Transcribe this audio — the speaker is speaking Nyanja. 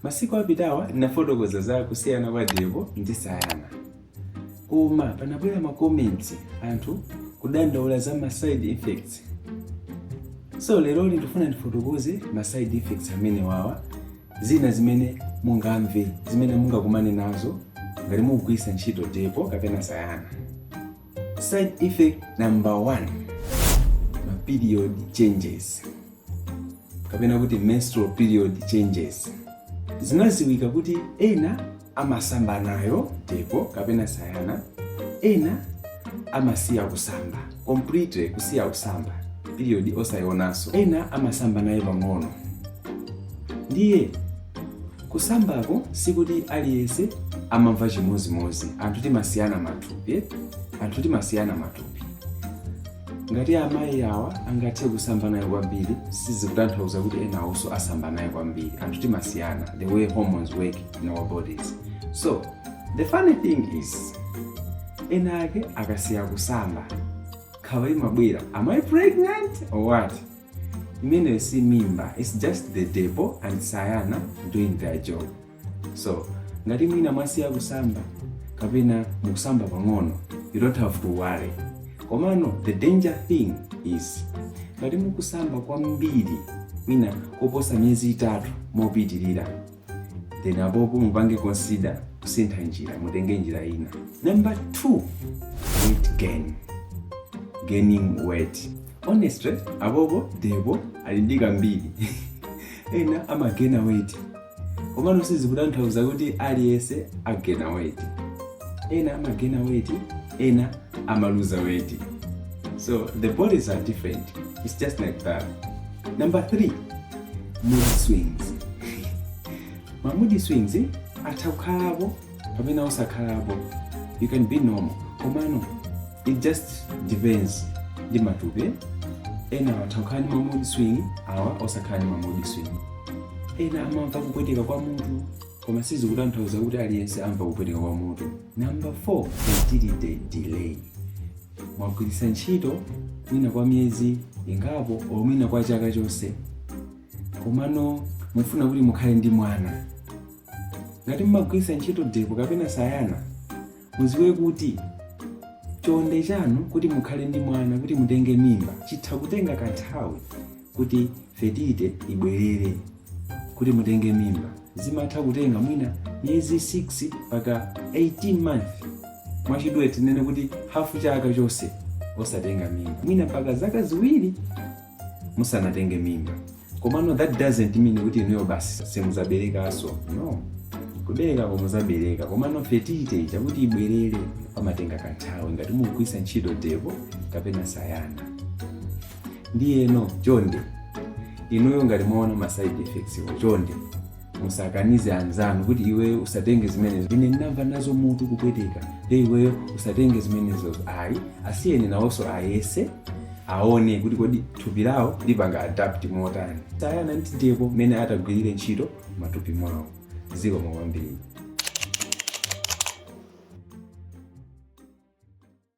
Masiku apitawa ndinafotokoza za kusiyana kwa Depo ndi Sayana, koma panabwera ma comments anthu kudandaula za ma side effects. So lero ndifuna ndifotokoze ma side effects amene wawa zina zimene mungamve zimene mungakumane nazo ngati mukugwiritsa ntchito Depo kapena Sayana. Side effect number one, ma period changes. kapena kuti menstrual period changes zinaziwika kuti ena amasamba nayo depo kapena sayana ena amasiya kusamba completely kusiya kusamba period osayionanso ena amasamba nayo pang'ono ndiye kusambako sikuti aliyense amamva chimozimozi anthu timasiyana matupi eh? anthu timasiyana matupi Ngati amayi awa angathe kusamba nayo kwambiri sizikutanthauza kuti enawonso asamba nayo kwambiri. Anthu timasiyana the way hormones work in our bodies. So the funny thing is ena ake akasiya kusamba nkhawa imabwera am I pregnant or what? Imeneyo si mimba, it's just the depo and sayana doing their job. So, ngati mwina mwasiya kusamba kapena mukusamba pang'ono, you don't have to worry. Komano the danger thing is ngati mukusamba kwambiri mwina koposa miyezi itatu mopitirira then apopo mupange consider kusintha njira mutenge njira ina. Number two, weight gain. Gaining weight. Honestly, apopo depo ali ndi kambiri ena amagena weight komano sizikutanthauza kuti aliyense agena weti ena amagena weti ena amaluza weti so the bodies are different it's just like that number three mood swings ma mood swings eh, atha kukhalapo kapena osakhalapo you can be normal komano it just depends ndi matupi ena atha kukhala ndi mamood swing awa osakhala ndi mamood swing ena amamva kupweteka kwa mutu koma sizikutanthauza kuti aliyense amva kupweteka kwa mutu number 4 fertility delay mwagwiritsa ntchito mwina kwa miyezi ingapo or mwina kwa chaka chonse komano mufuna kuti mukhale ndi mwana ngati mmagwiritsa ntchito depo kapena sayana muziwe kuti chonde chanu kuti mukhale ndi mwana kuti mutenge mimba chitha kutenga kanthawi kuti fertility ibwerere kuti mutenge mimba zimatha kutenga mwina miyezi 6 mpaka 18 month mwachidule tinene kuti hafu chaka chonse osatenga mimba mwina mpaka zaka ziwiri musanatenge mimba komano that doesn't mean kuti inuyo basi simuzaberekaso no kubereka ko muzabereka komano fertility ija kuti ibwerere pamatenga kanthawi ngati mukugwiritsa ntchito depo kapena sayana ndiyeno chonde inuyo ngati mwaona ma side effects-wo chonde musakanize anzanu kuti iweyo usatenge zimenezo ine ndinamva nazo mutu kupweteka nde iweyo usatenge zimenezo ayi asiyeni nawonso ayese aone kuti kodi thupi lawo lipanga adapt motani sayana ndi depo mmene atagwirire ntchito mmatupi mwawo zikomo kwambiri